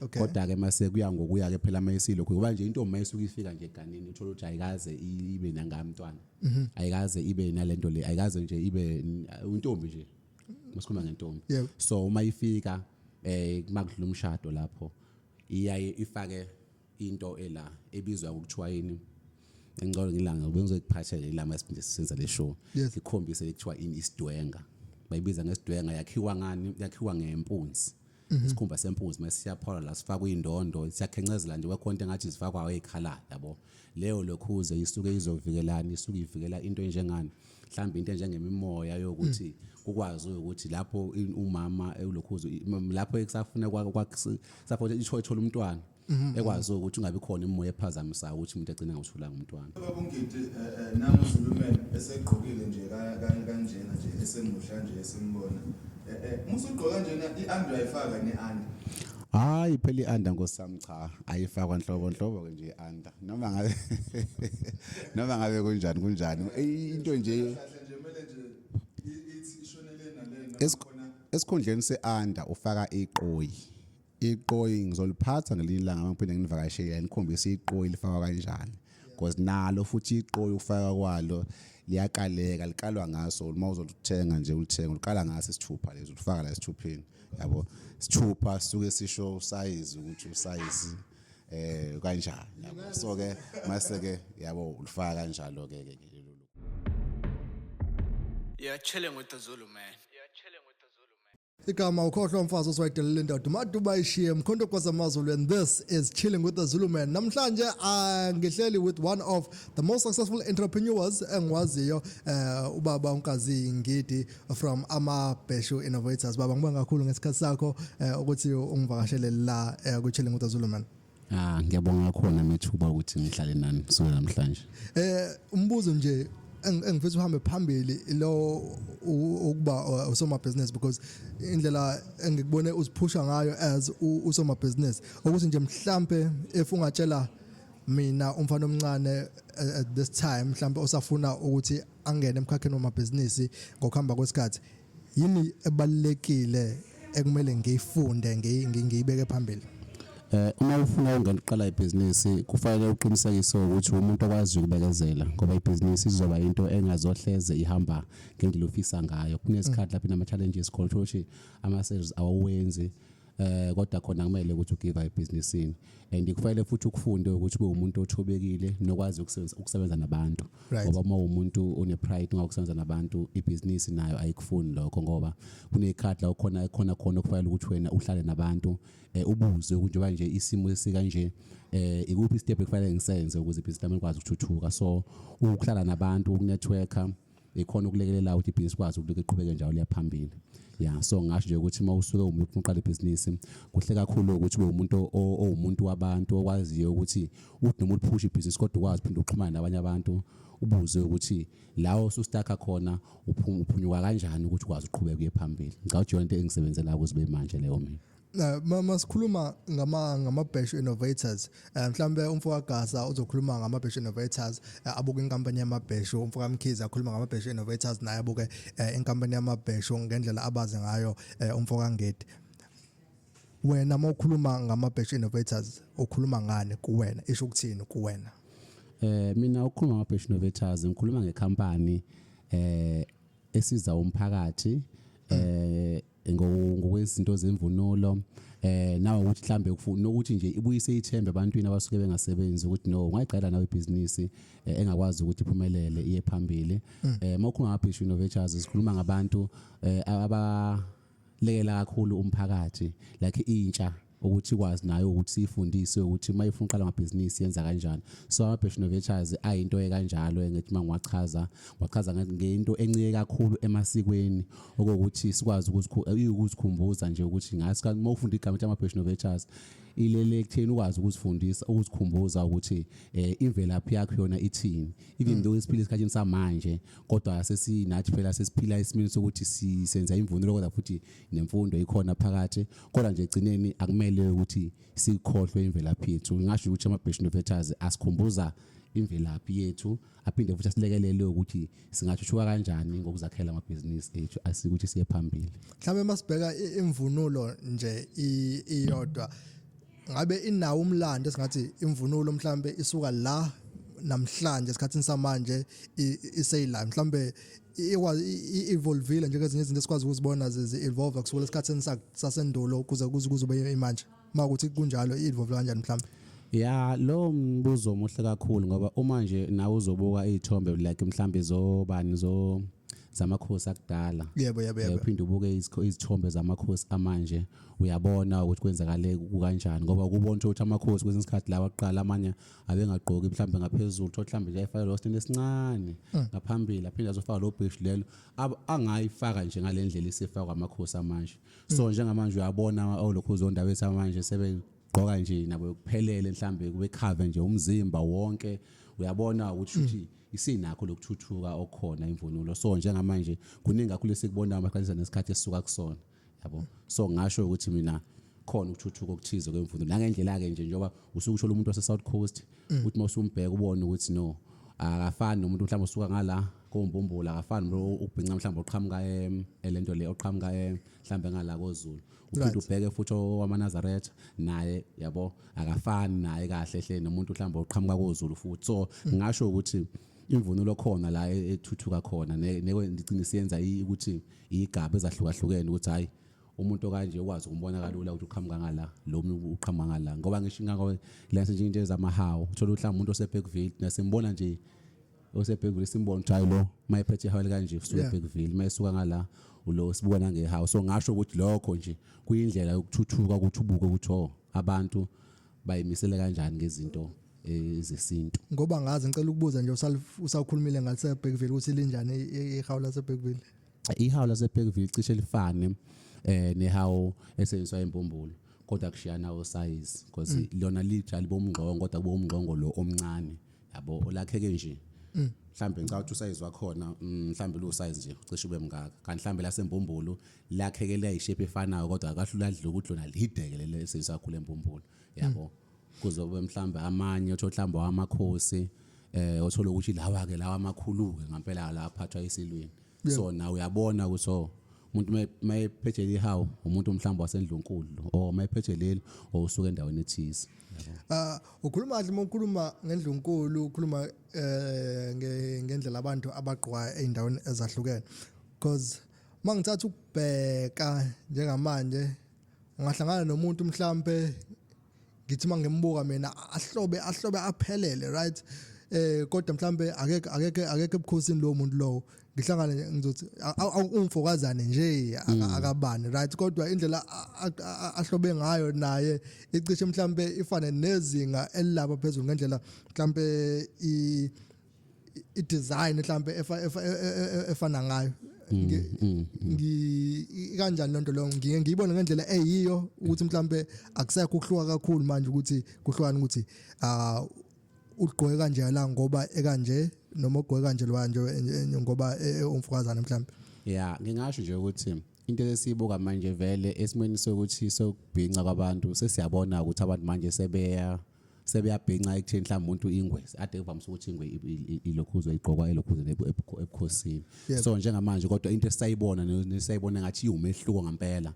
Okay. kodwa ke mase kuya ngokuya ke phela mayisilo kuba nje intombi mayisuka ifika nje eganeni uthola ukuthi ayikaze i- ibe nangamntwana Mhm. ayikaze ibe nalento le ayikaze nje ibe n- intombi nje masikhuluma ngentombi Yebo. so uma ifika eh makudlula umshado lapho iyaye ifake into ela ebizwa ngokuthiwa yini engicela ngilanga bengizokuphathela ilama esiphinde sisenza le show Yes. ikhombise ekuthiwa ini isidwenga bayibiza ngesidwenga yakhiwa ngani yakhiwa ngempunzi Mhm. isikhumba sempunzi mase siyaphola la sifakwa indondo siyakhencezela nje kwekhonto engathi zifakwa ekhala yabo leyo lokhuze isuke izovikelana isuke ivikela into enjengani mhlawumbe into enjengemimoya yokuthi hmm. kukwazi ukuthi lapho umama elokhuzo lapho ekusafuna kwakusafuna isho ethola umntwana hmm. ekwazi ukuthi ungabi khona imoya ephazamisayo ukuthi umuntu agcina ngawuthula ngumntwana baba ungidi eh, eh, nami zulumeni esegqokile nje kanjena nje esemuhla nje esimbona eh, musugqoka njena i-under ayifaka ne-under hayi phela i-under ngosami cha ayifakwa nhlobo nhlobo ke nje i-under noma ngabe noma ngabe kunjani kunjani into nje esikhundleni seanda ufaka iqoyi iqoyi ngizoliphatha ngelinye ilanga mangiphinde nginivakashele nikhombise iqoyi lifakwa kanjani because nalo futhi iqoyi ukufaka kwalo liyakaleka likalwa ngaso uma uzolithenga nje ulithenga uliqala ngaso isithupha lezi ulifaka la esithupheni yabo sithupha sisuke sisho usayizi ukuthi usayizi eh kanjani yabo so ke mase ke yabo ulifaka kanjalo ke ke lelo Yeah, chilling with the Zulu man. Yeah, chilling with the Zulu man. igama ukhohlwa umfazi osiwayidelela indoda umaduba ishiye mkhonto kwazamazulu and this is chilling with the zulu man namhlanje ah, ngihleli with one of the most successful entrepreneurs engiwaziyo eh ubaba unkazi ngidi from ama Beshu Innovators baba ngibonga kakhulu ngesikhathi sakho eh, ukuthi ungivakashele la eh, ku Chilling with Zulu man Ah ngiyabonga khona methuba ukuthi ngihlale nani kusukela namhlanje. Eh umbuzo nje eng- engifisa uhambe phambili lo u- ukuba uh, usomabhizinisi because indlela engikubone uziphusha ngayo as u- usomabhizinisi ukuthi nje mhlampe if ungatshela mina umfana omncane eh, at this time mhlampe osafuna ukuthi angene emkhakheni wamabhizinisi ngokuhamba kwesikhathi yini ebalekile ekumele ngiyifunde ngiyibeke phambili eh uma ufuna ukungena uqala ibhizinisi kufanele uqinisekise ukuthi umuntu okwazi ukubekezela ngoba ibhizinisi izoba into engazohleze ihamba ngendlela ofisa ngayo kunesikhathi lapho inama challenges khona ukuthi ama sales awawenzi eh kodwa khona kumele ukuthi ugive ebhizinisini and kufanele futhi ukufunde ukuthi ube umuntu othobekile nokwazi ukusebenza ukusebenza nabantu Right. ngoba uma umuntu une pride ngokusebenza nabantu ibhizinisi nayo ayikufuni lokho ngoba kunekhathi la ukhona khona khona okufanele ukuthi wena uhlale nabantu eh, ubuze ukuthi njengoba nje isimo sikanje eh ikuphi step ekufanele ngisenze ukuze ibhizinisi lami likwazi ukuthuthuka so ukuhlala nabantu ukunetworker ikhona ukulekelela ukuthi ibhizinisi kwazi ukuthi liqhubeke njalo liya phambili ya so ngasho nje ukuthi uma usuke umuntu ufuna uqala ibhizinisi kuhle kakhulu ukuthi ube umuntu owumuntu wabantu okwaziyo ukuthi uthi noma uliphusha ibhizinisi kodwa ukwazi phinde uxhumane nabanye abantu ubuze ukuthi lawo sustakha khona uphuma uphunyuka kanjani ukuthi ukwazi uqhubeke uye phambili ngicabanga ukuthi yonto engisebenzela kuze kube manje leyo mina Eh, mama sikhuluma ngama ngama batch innovators eh, mhlambe umfo kaGasa uzokhuluma ngama batch innovators eh, abuke inkampani yama batch umfo kaMkhize akhuluma ngama batch innovators naye abuke inkampani yama batch ngendlela abaze ngayo umfo kaNgedi wena mawukhuluma ngama batch innovators ukhuluma ngani kuwena isho ukuthini kuwena eh mina ukhuluma ngama batch innovators ngikhuluma ngecompany eh esiza umphakathi eh ngokwezinto zemvunulo eh nawe ukuthi mhlambe ukufuna ukuthi nje ibuyise ithembe ebantwini abasuke bengasebenzi ukuthi no ungayiqala nawe ibhizinisi eh, engakwazi ukuthi iphumelele iye phambili mm. eh mawukhuluma ngabhishu innovators sikhuluma ngabantu eh, aba lekela kakhulu umphakathi like intsha ukuthi ikwazi nayo ukuthi siyifundise ukuthi uma ifuna uqala amabhizinisi yenza kanjani so ama-passion novetures ayinto ekanjalo engithi uma ngiwachaza ngiwachaza ngento encike kakhulu emasikweni okokuthi sikwazi ukuzikhumbuza nje ukuthi ngathi uma ufunda igama ukuthi ama-passion novetures ilele ekutheni ukwazi ukuzifundisa ukuzikhumbuza ukuthi eh imvelaphi yakho yona ithini even hmm. though isiphila esikhathini samanje kodwa sesinathi phela sesiphila isimini sokuthi sisenza imvunulo kodwa futhi nemfundo ikhona phakathi kodwa nje egcineni akumele ukuthi sikhohlwe imvelaphi yethu ngingasho ukuthi ama-best innovators asikhumbuza imvelaphi yethu aphinde futhi asilekelele ukuthi singathuthuka kanjani ngokuzakhela amabhizinisi ethu asikuthi siye phambili mhlawumbe masibheka imvunulo nje iyodwa ngabe inawo umlando esingathi imvunulo mhlawumbe isuka la namhlanje esikhathini samanje iseyila mhlawumbe i-evolvile njengezinye izinto esikwazi ukuzibona zi-evolve kusukela esikhathini sasendulo kuze kuze kuze ube imanje uma ukuthi kunjalo i-evolve kanjani mhlawumbe ya lo mbuzo omuhle kakhulu ngoba uma nje nawe uzobuka iy'thombe like mhlawumbe zobani zo zamakhosi akudala yebo yebo yebo uphinde ubuke izithombe zamakhosi amanje uyabona ukuthi kwenzakale kukanjani ngoba ukubona ukuthi amakhosi kwesinye isikhathi lawa aqala amanye abengagqoki mhlawumbe ngaphezulu thola mhlawumbe nje ayifake lo stand esincane mm. ngaphambili aphinde azofaka lo bridge lelo angayifaka nje ngalendlela isifakwa amakhosi amanje so mm. njengamanje uyabona olokhu uzondaba ethu manje sebe gqoka nje nabo kuphelele mhlambe kube cover nje umzimba wonke uyabona ukuthi uthi mm. isinakho lokuthuthuka okhona imvunulo so njengamanje kuningi kakhulu esikubonayo amakhanyisa nesikhathi esisuka kusona yabo so ngasho ukuthi mina khona ukuthuthuka okuthize kwemfundo nangendlela ke nje njengoba usukusho umuntu wase South Coast mm. uthi mawusumbheka ubone ukuthi no akafani nomuntu mhlawumbe usuka ngala kombumbula akafani nomuntu ubhinca mhlawumbe oqhamuka em elento le oqhamuka em mhlawumbe ngala kozulu uphinde ubheke futhi owamanazaretha naye yabo akafani naye kahle hle nomuntu mhlawumbe oqhamuka kozulu futhi so mm. ngasho ukuthi imvunulo khona la e-, ethuthuka khona neke ngicine siyenza ukuthi iyigaba ezahlukahlukene ukuthi hayi umuntu okanje ukwazi ukumbona kalula ukuthi uqhamuka ngala lo uqhamuka ngala ngoba ngisho ingakho lase nje into ezamahawu uthola ukuthi umuntu oseBeckville nasimbona nje oseBeckville simbona ukuthi hayi lo mayephethe ihawu kanje usuke eBeckville mayesuka ngala ulo sibuka nangehawu so ngasho ukuthi lokho nje kuyindlela yokuthuthuka ukuthi ubuke ukuthi oh, abantu bayimisele kanjani ngezinto eh, zesintu ngoba ngazi ngicela ukubuza nje usawukhulumile ngase Bergville ukuthi linjani ihawu lase Bergville ihawu lase Bergville cishe lifane eh nehawu esenziswa embumbulu kodwa kushiyana o size because mm. lona lijali bomngqongo kodwa kubomngqongo lo omncane yabo olakheke nje mm. mhlambe ngicabanga ukuthi usayizi wakhona mm, mhlambe lo size nje cishe ube mngaka kanti mhlambe lasembumbulu lakheke liyayishape efanayo kodwa akahlula adle ukuthi lona lideke lelo esisakhule empumpulu yabo kuzobe mhlawumbe amanye othi ohlamba wamakhosi eh othola ukuthi lawa ke lawa amakhulu ke ngempela la aphathwa isilweni so nawe uyabona ukuthi oh, umuntu mayephethe lihawu umuntu mhlawumbe wasendlunkulu or mayephethe leli owusuka endaweni ethize ah ukhuluma kahle uma ukhuluma ngendlunkulu ukhuluma eh ngendlela abantu abagqwa endaweni ezahlukene because uma ngithatha ukubheka njengamanje ungahlangana nomuntu mhlampe ngithi uma ngimbuka mina ahlobe ahlobe aphelele right eh kodwa mhlambe akeke akeke akeke ebukhosini lo muntu lowo ngihlangane ngizothi ungifokazane nje mm. akabani right kodwa indlela ahlobe ngayo naye icishe mhlambe ifane nezinga elilapha phezulu ngendlela mhlambe i i design mhlambe e, e, efana ngayo mm, mm, mm. ngi kanjani lento leyo ngiye ngiyibona ngendlela eyiyo ukuthi mhlambe akusekho ukuhluka kakhulu manje ukuthi kuhlukana ukuthi ah ugqoke kanje la ngoba ekanje noma ugqoke kanje lo kanje ngoba e, e, umfukazana mhlambe yeah ngingasho nje ukuthi into esiyibuka manje vele esimweni sokuthi sokubhinca kwabantu sesiyabona ukuthi abantu manje sebeya sebeyabhinca ekutheni mhlawumbe umuntu ingwe ade kuvamise ukuthi ingwe ilokhuzwa igqokwa elokhuzeni ebukhosini so njengamanje kodwa into esayibona nesayibona ngathi iwumehluko ngempela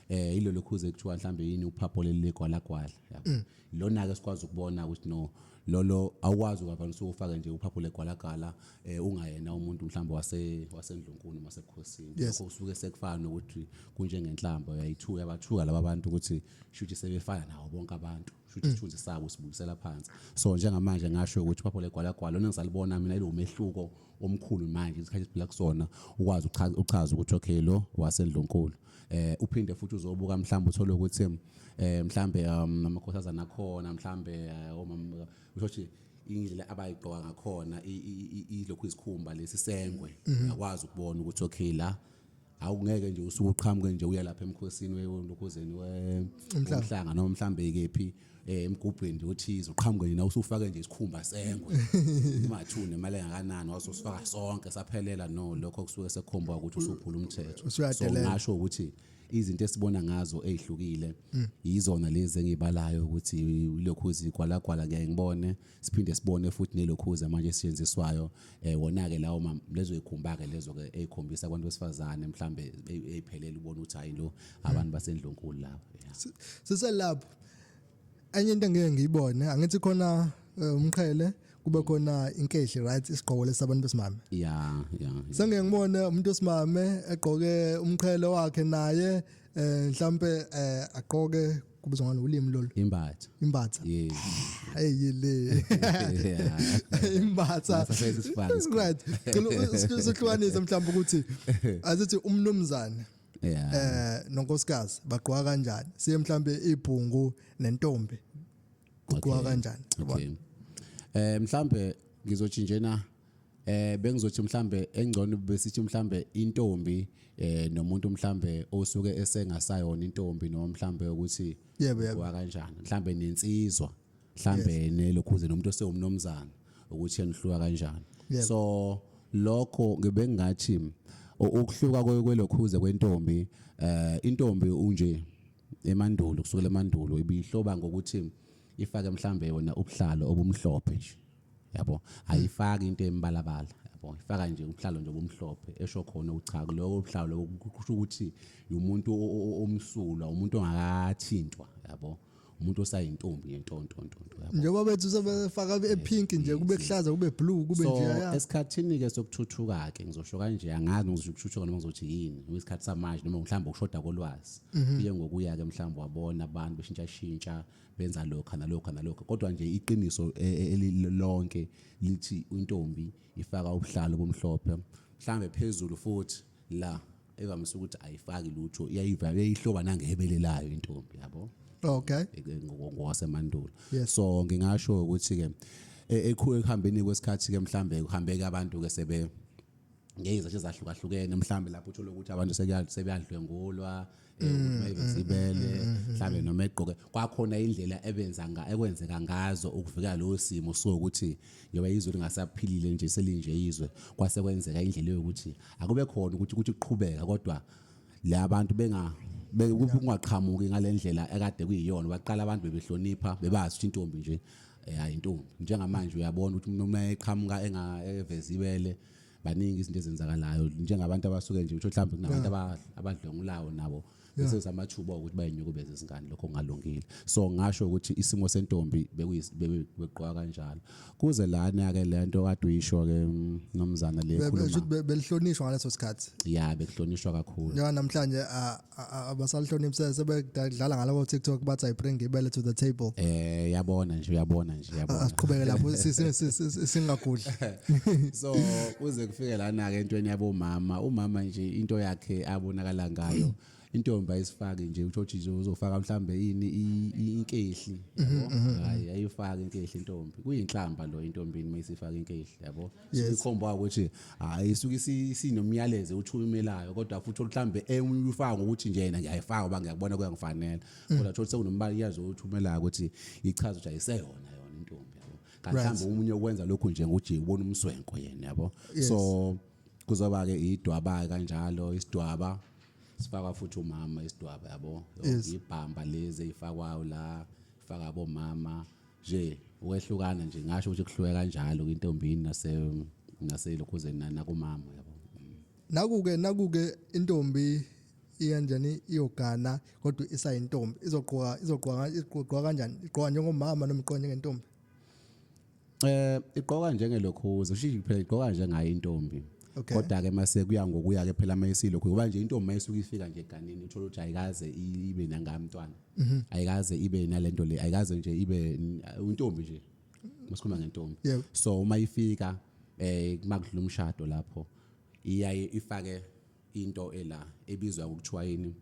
eh ilo lokhuze ekuthiwa mhlambe yini uphapho leligwalagwala mm. lona ke sikwazi ukubona ukuthi no lolo awukwazi ukavamise ufake nje uphapho legwalagala eh ungayena umuntu mhlawumbe wase wasendlunkulu masebukhosini lokho usuke sekufana nokuthi kunjengenhlamba yayithuka yabathuka laba bantu ukuthi shuthi sebefana nawo bonke abantu futhi mm. isithunzi sabo sibuyisela phansi so njengamanje ngasho ukuthi phapho legwala gwala lona ngisalibona mina ilo mehluko omkhulu manje isikhathi siphila kusona ukwazi uchaza ukuthi okay lo wasendlunkulu eh uphinde futhi uzobuka mhlawumbe uthole ukuthi eh mhlambe um, amakhosazana akhona mhlambe eh, omama ushothi indlela abayigqoka ngakhona ilokhu izikhumba lesisengwe mhm. uyakwazi ukubona ukuthi okay la awungeke nje usuke uqhamuke nje uya lapha emkhosini weyonokhozeni womhlanga noma mhlambe ikephi eh, emgubhweni nje othize uqhamuke nje usufake nje isikhumba sengwe imathune imali engakanani wasosifaka sonke saphelela no lokho kusuke sekhomba ukuthi usuphula umthetho so ngasho ukuthi izinto esibona ngazo ezihlukile yizona lezi engibalayo ukuthi ilokhu izikwalagwala ngeke ngibone siphinde sibone futhi nelokhuza manje esisetshenziswayo eh wona-ke lawo ma- lezo yikhumba-ke lezo-ke ey'khombisa abantu besifazane mhlawumbe ey- ey'phelele ubona ukuthi hhayi lo abantu basendlunkulu laba yeah. siselapho enye into engeke ngiyibone angithi khona eh, umqhele kube khona inkehli right isigqoko lesabantu besimame ya ya sengeke ngibone umuntu wesimame egqoke umqhele wakhe naye eh mhlambe eh aqoke kubizwa ngani ulimi lolu imbatha imbatha yeah hey yile imbatha right cela usuhlukanise mhlawumbe ukuthi azithi umnumzane yeah eh nonkosikazi bagqoka kanjani siye mhlambe ibhungu nentombi kugqoka kanjani okay eh mhlambe ngizotshinjena eh bengizothi mhlambe engcono besithi mhlambe intombi eh nomuntu mhlambe osuke esengasayona intombi noma mhlambe ukuthi Yebo, yebo. wa kanjani mhlambe nensizwa mhlambe nelokhuze nomuntu osewumnomzana ukuthi enihluka kanjani Yebo. so lokho ngibe ngathi u- ukuhluka kwe- kwelokhuze kwentombi eh intombi unje emandulo kusukela emandulo ibihloba ngokuthi ifake mhlambe yona ubuhlalo obumhlophe nje yabo ayifaki into embalabala yabo ifaka nje umhlalo nje obumhlophe esho khona ukuthi cha lowo mhlalo lowo kusho ukuthi umuntu o- o- o- omsulwa umuntu ongakathintwa yabo umuntu osayintombi yentontontonto yabo njengoba bethu sebefaka epink nje kube kuhlaza kube blue kube so nje ya esikhathini ke sokuthuthuka ke ngizosho kanje angazi ngizosho ukuthuthuka noma ngizothi yini ngoba isikhathi samanje noma mhlawumbe ukushoda kolwazi kuye ngokuya ke mhlawumbe wabona abantu beshintsha shintsha benza lokha nalokha nalokha kodwa nje iqiniso e, e, elilonke lithi intombi ifaka ubuhlalo bomhlophe mhlambe phezulu futhi la evamise ukuthi ayifaki lutho iyayiva iyihloba nangehebele layo intombi yabo okay ngokwasemandulo so ngingasho ukuthi ke e, ekuhambeni kwesikhathi ke mhlambe kuhambeke abantu ke sebe ngeyizathu ezahlukahlukene mhlawumbe lapho uthole ukuthi abantu sebeyadlwengulwa um eh, mm, mayibezibele mm, mm, mhlawumbe noma egqoke kwakhona indlela ebenza ekwenzeka ngazo ukuvikela lowo simo sokuthi njengoba izwe lingasaphilile nje selinje izwe kwase kwenzeka indlela yokuthi akube khona ukuthi ukuthi kuqhubeka kodwa le abantu benga bekungaqhamuki ngalendlela ekade kuyiyona baqala abantu bebehlonipha bebazi ukuthi intombi nje eh, hayi intombi njengamanje uyabona ukuthi noma eqhamuka engaveziwele eh, baningi izinto ezenzakalayo njengabantu abasuke nje utho mhlawumbe kunabantu abadlongulawo nabo bese usamathuba ukuthi bayinyukubeze izingane lokho kungalungile so ngasho ukuthi isimo sentombi bekugqoka kanjalo kuze lana ke lento kade uyisho ke mm, nomzana le khuluma belihlonishwa ngaleso sikhathi ya bekuhlonishwa kakhulu njenga namhlanje ah, abasalihloniphi sebedlala ngalabo TikTok bathi I bring ibele to the table eh yabona nje uyabona nje yabona asiqhubeke lapho singagudli so kuze kufike lana ke entweni yabo mama umama nje into yakhe abonakala ngayo intombi ayisifaki nje utho uthi uzofaka mhlambe yini inkehli yabo mhm, mhm, mhm. hayi ayifaki inkehli intombi kuyinhlamba lo intombini mayisifaka inkehli yabo Yes. sikhomba ukuthi hayi isuke isi- sinomyalezo uthumelayo kodwa futhi mhlambe emunye ufaka ngokuthi nje yena ngiyayifaka ngoba ngiyakubona kuyangifanela Mm. kodwa thola sekunombali yazi othumelayo ukuthi ichaza ukuthi ayiseyona yona intombi yabo kanti Right. mhlawumbe omunye okwenza lokhu nje ngokuthi ubona umswenko yena yabo Yes. so kuzoba ke idwaba kanjalo isidwaba sifakwa futhi umama isidwaba yabo Yes. ibhamba lezi eyifakwayo la ifaka abomama nje ukwehlukana nje ngasho ukuthi kuhlukeka kanjalo kwintombini nase naselokhuzeni nakumama yabo nakuke nakuke intombi iyanjani iyogana kodwa isayintombi izogqoka izogqoka igqoka kanjani igqoka njengomama noma igqoka njengentombi eh igqoka njengelokhuza ushishi phela igqoka njengayo intombi Okay. kodwa ke mase kuya ngokuya ke phela mayisilo kuba nje intombi mayisuka ifika nje eganeni uthola ukuthi ayikaze i- ibe nangamntwana Mhm. ayikaze ibe nalento le ayikaze nje ibe n- untombi nje masikhuluma ngentombi Yebo. so uma ifika eh makudlula umshado lapho iyaye ifake into ela ebizwa ukuthiwa yini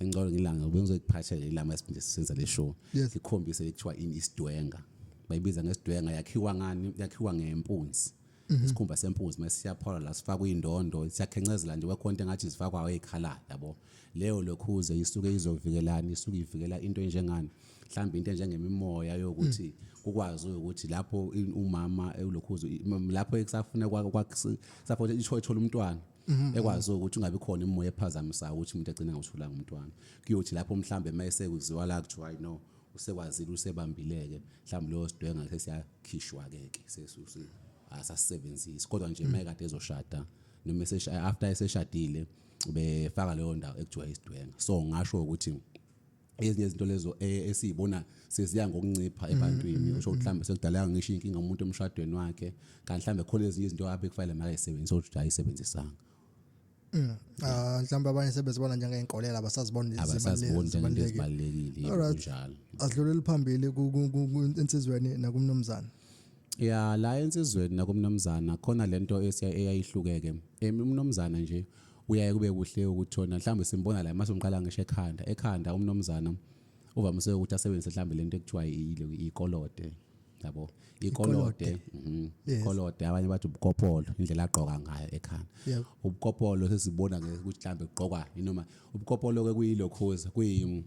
engicela ngilanga bengizokuphatha lelama siphinde sisenza le show Yes. ikhombise ekuthiwa ini isidwenga bayibiza ngesidwenga yakhiwa ngani yakhiwa ngempunzi mhm. isikhumba sempunzi uma siyaphola la sifakwa indondo siyakhencezela nje kwekhonto engathi zifakwa eyikhala yabo leyo lokhuze isuke izovikelana isuke ivikela into enjengani mhlawumbe into enjengemimoya yokuthi mm. kukwazi ukuthi lapho umama ulokhuze lapho ekusafuna kwakusafuna isho ethola umntwana Mm-hmm. ekwazi ukuthi ungabi khona imoya ephazamisayo ukuthi umuntu agcine ngawutholanga umntwana kuyothi lapho mhlambe uma esekuziwa la kuthiwa hayi no usekwazile usebambileke mhlawumbe leyo sidwenga khishwa ke ke sesusi asasebenzisi kodwa nje maye kade ezoshada noma esesha after eseshadile ubefaka leyo ndawo ekuthiwa isidwenga so ngasho ukuthi ezinye izinto lezo eh, esizibona seziya ngokuncipha mm, ebantwini mm, usho mm. mhlambe sekudaleka ngisho inkinga umuntu emshadweni wakhe kanti mhlambe khona ezinye izinto abe kufanele makayisebenzise ukuthi ayisebenzisanga Mm. Ah mhlawumbe abanye sebezibona njengeenkolela abasazibona ezibalekile kunjalo. Adlulele phambili insizweni nakumnumzana. Ya la insizweni nakumnumzana khona lento eyayihlukeke. Emi umnumzana nje uyaye kube kuhle ukuthona mhlawumbe simbona la mase umqala ngisho ekhanda ekhanda umnumzana uvamise ukuthi asebenzise mhlawumbe lento ekuthiwa iyikolote yabo ikolode mhm, ikolode abanye bathi ubukopolo indlela agqoka ngayo ekhanda ubukopolo sesibona ke ukuthi mhlambe ugqokwa inoma ubukopolo ke kuyilokhoza kuyi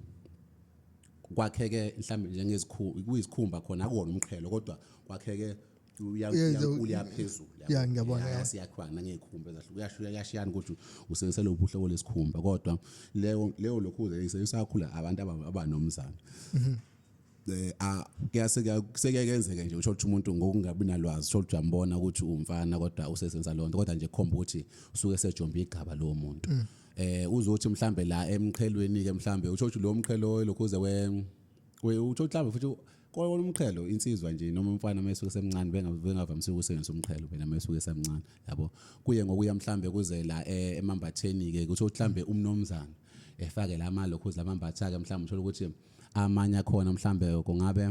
kwakheke mhlambe njengezikhulu kuyizikhumba khona akuwona umqhelo kodwa kwakheke uyaphezulu ya ngiyabona yasiyakhwa nangezikhumba ezahlukene kuyashiyana ukuthi usebenzisa lo buhlobo lesikhumba kodwa leyo leyo lokhuze isayisakula abantu abanomzana mhm. eh, a- kuyase kuya- sekuye kenzeke nje uthole ukuthi umuntu ngokungabi nalwazi uthole ukuthi uyambona ukuthi uwumfana kodwa usesenza loo nto kodwa nje khomba ukuthi usuke esejombe igaba lowo muntu Mm. eh uzothi mhlambe la emqhelweni ke mhlambe uthole ukuthi lo mqhelo lokhuze we we uthole mhlambe futhi kona umqhelo insizwa nje noma umfana mesuke semncane benga- bengavamisile ukusebenzisa umqhelo wena mesuke semncane yabo kuye ngokuya mhlambe kuze la eh, emambatheni ke uthole mhlambe umnomzana efake la malokhuze lamambatha ke mhlambe uthole ukuthi amanye akhona mhlambe kungabe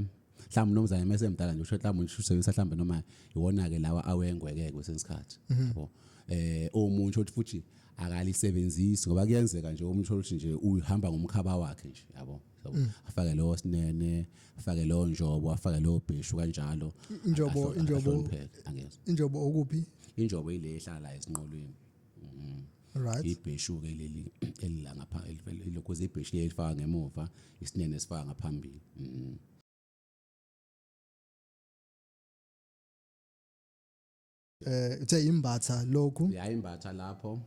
mhlawumbe unomzane mese emdala nje usho mhlawumbe usebenzisa mhlawumbe noma iwona ke lawa awengweke kwesinye isikhathi mhm. yabo eh omuntu othi futhi akalisebenzisi ngoba kuyenzeka nje umuntu othi nje uhamba ngomkhaba wakhe nje yabo Mm. afake lowo sinene afake lowo njobo afake lowo bhishu kanjalo injobo injobo injobo okuphi injobo ile ehlala esinqolweni mm. right ibheshu ke leli elila ngapha lokho zibheshu leli faka ngemuva isinene sifaka ngaphambili mm. eh uthe imbatha lokhu ya imbatha lapho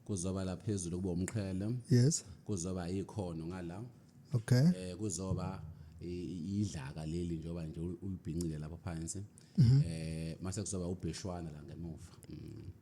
kuzoba laphezulu kuba umqhele yes kuzoba ikhono ngala okay eh kuzoba idlaka leli njengoba nje ulibhincile lapha phansi mhm. eh mase kuzoba ubheshwana la ngemuva mm.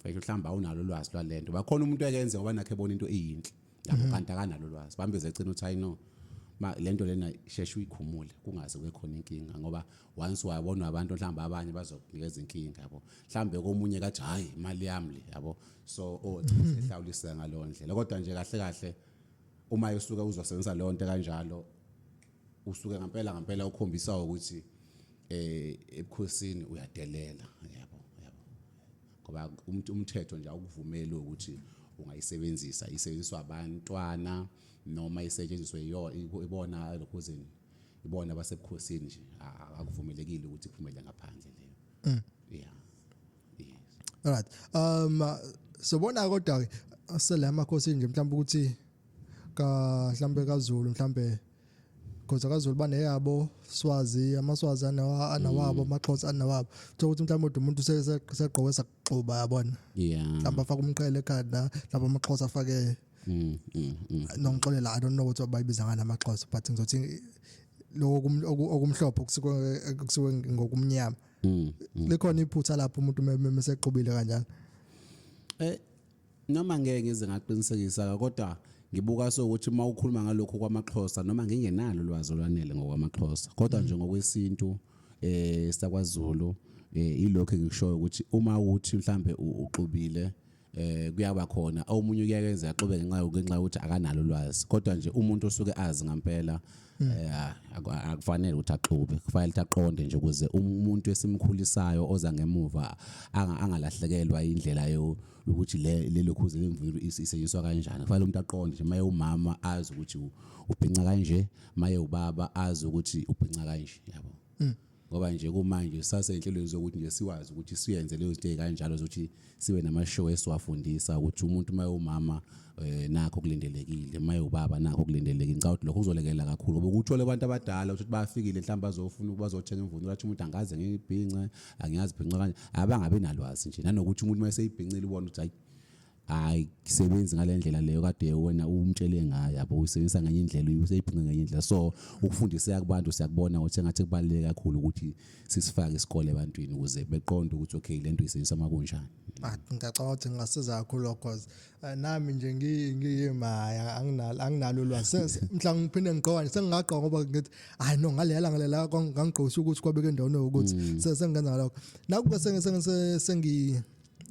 Mfethu mhlawumbe awunalo ulwazi lwalento. Bakhona umuntu ekenze ngoba nakhe ebona into eyinhle. Lapho Mhm. kanti akanalo ulwazi. Bambeze ecina uthi I know. Ma lento lena sheshe uyikhumule kungaze kube khona inkinga ngoba once wabona abantu mhlawumbe abanye bazokunikeza inkinga yabo. Mhlawumbe komunye kathi hayi imali yami le yabo. So oh sehlawulisa ngalowo ndlela. Kodwa nje kahle kahle uma usuke uzosebenzisa leyo nto kanjalo usuke ngempela ngempela ukhombisa ukuthi eh ebukhosini uyadelela yabo yabo ngoba umuntu umthetho nje awukuvumeli ukuthi ungayisebenzisa isebenziswa abantwana noma isetshenziswe ibona lokhuzini ibona abasebukhosini nje akuvumelekile ukuthi kuphumele ngaphandle leyo mm. yeah yes all right um sobona kodwa ke selama khosi nje mhlawumbe ukuthi ka mhlawumbe kaZulu mhlawumbe Khoza kaZulu baneyabo Swazi amaswazi anawa anawabo mm. amaXhosa anawabo kuthiwa ukuthi mhlawumbe ude umuntu segqoke sakuxuba yabona yeah mhlawumbe afaka umqhele ekhanda mhlawumbe amaXhosa afake mm, mm, mm. nongixolela i don't know ukuthi bayibiza ngani amaXhosa but ngizothi lokho okumhlophe kusuke kusuke ngokumnyama mm, mm. likhona iphutha lapho umuntu mesexubile kanjalo eh noma ngeke ngize ngaqinisekisa kodwa ngibuka sokuthi uma ukhuluma ngalokho kwamaXhosa noma ngingenalo ulwazi olwanele ngokwamaXhosa kodwa nje ngokwesintu eh sakwaZulu eh ilokho engikushoyo ukuthi uma uthi mhlambe uxubile eh kuyaba khona omunye uyakenza axube ngenxa yokuthi akanalo ulwazi kodwa nje umuntu osuke azi ngempela Hmm. Eh, ah, akufanele ukuthi axube kufanele ukuthi aqonde nje ukuze umuntu esimkhulisayo oza ngemuva angalahlekelwa indlela yokuthi lelo khuze lemvulo isetyenziswa kanjani kufanele umuntu aqonde nje maye umama azi ukuthi ubhinca kanje maye ubaba azi ukuthi ubhinca kanje yabo hmm. ngoba nje kumanje sisasenhlelweni zokuthi nje siwazi ukuthi siyenze leyo zinto kanjalo zokuthi sibe nama show esiwafundisa ukuthi umuntu uma umama eh nakho kulindelekile uma ubaba nakho kulindelekile ngicabanga ukuthi lokho kuzolekelela kakhulu ngoba ukuthole abantu abadala ukuthi bafikile mhlawumbe bazofuna bazothenga imvunulo athi umuntu angaze ngibhince angiyazi bhinca kanje abangabe nalwazi nje nanokuthi umuntu uma eseyibhincile ubona ukuthi hayi hayi kusebenzi ngalendlela leyo kade wena umtshele ngayo yabo uyisebenzisa ngenye indlela useyiphinga ngenye indlela so ukufundiseka kubantu siyakubona ukuthi engathi kubaluleke kakhulu ukuthi sisifake isikole ebantwini ukuze beqonde ukuthi okay lento isebenzisa makunjani ah, ngicabanga ukuthi ngingasiza kakhulu lokho cause eh, nami nje ngiyimaya anginalo anginalo ulwazi mhla ngiphinde ngiqoka sengingaqoka ngoba ngithi hayi no ngalelela ngalelela ngangigqosha ukuthi kwabeke endaweni ukuthi mm. sengenza ngalokho nakuba sengise sengi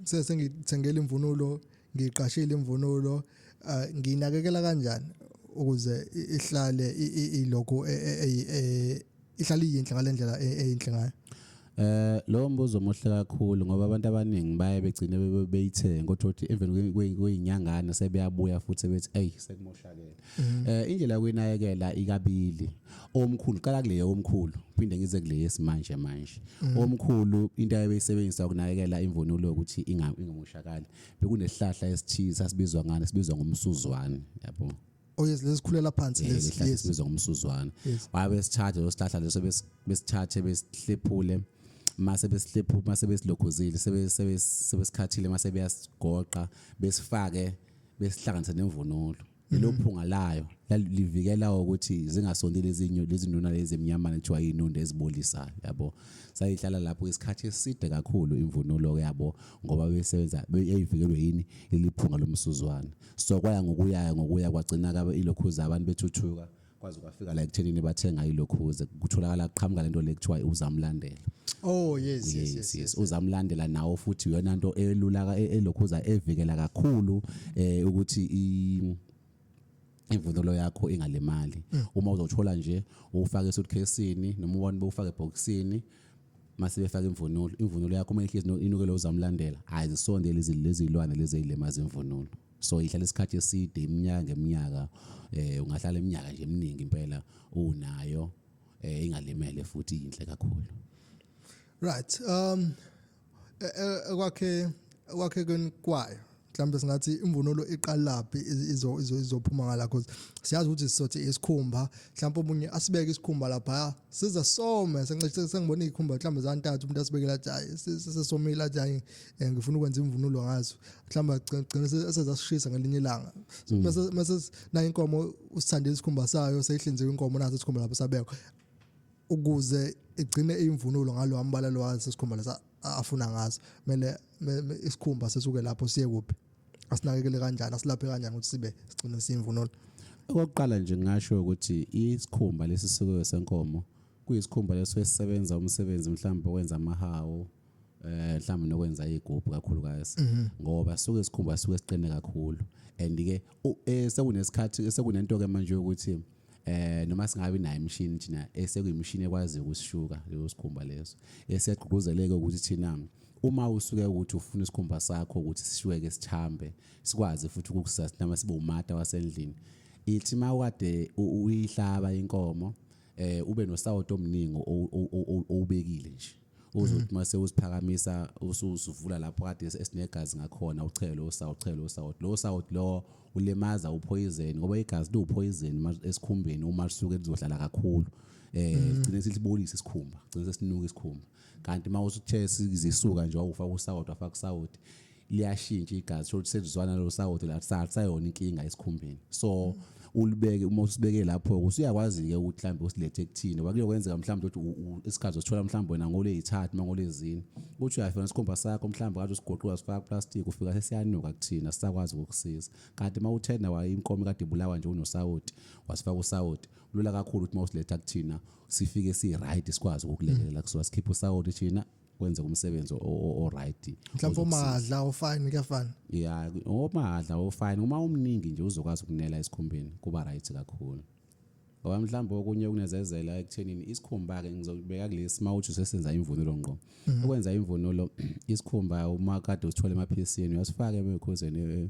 sese ngithengele imvunulo ngiqashile imvunulo ah, nginakekela kanjani ukuze ihlale ilokho e, e, e, ihlale iyinhle ngalendlela eyinhle ngayo Eh lo mbuzo omuhle kakhulu ngoba abantu abaningi baye begcine beyithenga kodwa uthi even kuyinyangana sebeyabuya futhi bethi hey sekumoshakele. Mm. Eh indlela yokunayekela ikabili. Omkhulu qala kule yomkhulu phinde ngize kule yesimanje manje. Mm. Omkhulu into ayebeyisebenzisa ukunayekela imvunulo ukuthi ingamushakali. Bekunesihlahla esithize sasibizwa ngani sibizwa ngomsuzwane yabo. Oh yes lezikhulela phansi eh, lesi yes sibizwa ngomsuzwane. Wabe sithathe lo sihlahla leso besithathe besihlephule. mase besihlephu mase besilokhuzile sebesikhathile mase beyasigoqa besifake besihlanganise nemvunulo lelo mhm. phunga layo livikela ukuthi zingasondi lezinyo lezinuna lezi emnyamana kuthiwa inunde ezibolisayo yabo sayihlala lapho isikhathi eside kakhulu imvunulo yabo ngoba besebenza beyivikelwe yini leliphunga lomsuzwana so kwaya ngokuya ngokuya kwagcina kabe ilokhuza abantu bethuthuka kwaze kwafika la ekuthenini bathenga ilokhuze kutholakala qhamuka lento le kuthiwa uzamlandela oh yes yes yes, yes. uzamlandela nawo futhi uyona nto elulaka e-, elokhuza evikela kakhulu eh ukuthi i imvunulo yakho ingalimali mm. uma uzothola nje ufake esuitcase-ini noma ubone bewufake ebhokisini mase befaka imvunulo imvunulo yakho uma ihlezi inukele uzamlandela ayizisondeli lezi lezilwane lezi ezilimaza imvunulo so ihlala isikhathi eside iminyaka ngeminyaka eh ungahlala iminyaka nje eminingi impela unayo eh ingalimele futhi inhle kakhulu right um e, e, kwakhe kwakhe kwayo mhlawumbe singathi imvunulo iqalaphi izo izo izophuma ngala cause siyazi ukuthi sisothi isikhumba mhlawumbe umunye asibeke isikhumba lapha siza some sengicishe sengibona izikhumba mhlawumbe zantathu umuntu asibekela athi hayi sesomile athi hayi eh, ngifuna ukwenza imvunulo ngazo mhlawumbe agcina esezasishisa ngelinye ilanga mm. mase nayo inkomo usithandile isikhumba sayo seyihlinzeka inkomo naso isikhumba lapho sabekwa ukuze igcine imvunulo ngalo ambala lo wazi isikhumba lesa afuna ngaso kumele isikhumba sesuke lapho siye kuphi asinakekele kanjani asilaphe kanjani ukuthi sibe sigcine simvunulo okokuqala nje ngingasho ukuthi isikhumba lesisukiwe senkomo kuyisikhumba leso esisebenza umsebenzi mhlawumbe okwenza amahawu eh mhlawumbe nokwenza igubhu kakhulukazi mhm. ngoba suke sikhumba suke siqine kakhulu and ke eh, sekunesikhathi sekunento ke manje ukuthi eh noma singabi nayo imishini thina esekuyimishini ekwazi ukusishuka leyo sikhumba leso esiyagqugquzeleke ukuthi thina uma usuke ukuthi ufuna isikhumba sakho ukuthi sishweke sithambe sikwazi futhi ukukusustain sibe umata wasendlini ithi mawade uyihlaba inkomo eh ube nosawoti omningi owubekile nje uze mm. uthi mase usiphakamisa usuvula lapho kade esinegazi ngakhona uchele usawu uchele usawu lo sawu lo ulemaza uphoyizeni ngoba igazi liwuphoyizeni esikhumbeni uma lisuke lizohlala kakhulu eh mm. gcine silibonisa isikhumba gcine sesinuka isikhumba kanti uma usuthese izisuka nje wawufa kusawoti wafa kusawoti liyashintsha igazi sho ukuthi selizwana lo sawoti la salisayona inkinga esikhumbeni so ulibeke uma usibeke lapho usuyakwazi ke ukuthi mhlambe usilethe kuthini wakuyo kwenzeka mhlambe ukuthi isikhathi usithola mhlambe wena ngole yithathu mangole ezini ukuthi uyafika isikhumba sakho mhlambe kade usigoqiwa sifaka plastic ufika sesiyanuka kuthina sisakwazi ukukusiza kanti uma uthenda waye inkomo kade ibulawa nje unosawoti wasifaka usawoti lula kakhulu ukuthi uma usiletha kuthina sifike si right sikwazi ukukulekelela kusuka sikhipha usawoti thina wenze umsebenzi o-right mhlawumbe omahadla ofine kuyafana ya omahadla ofine uma umningi nje uzokwazi ukunela esikhumbeni kuba right kakhulu ngoba mhlawumbe okunye okunezezela ekuthenini isikhumba-ke ngizobeka kulesi uma uthi usesenza imvunulo ngqo mhm. ukwenza imvunulo isikhumba uma kade usithole emaphisini uyasifaka emikhuzeni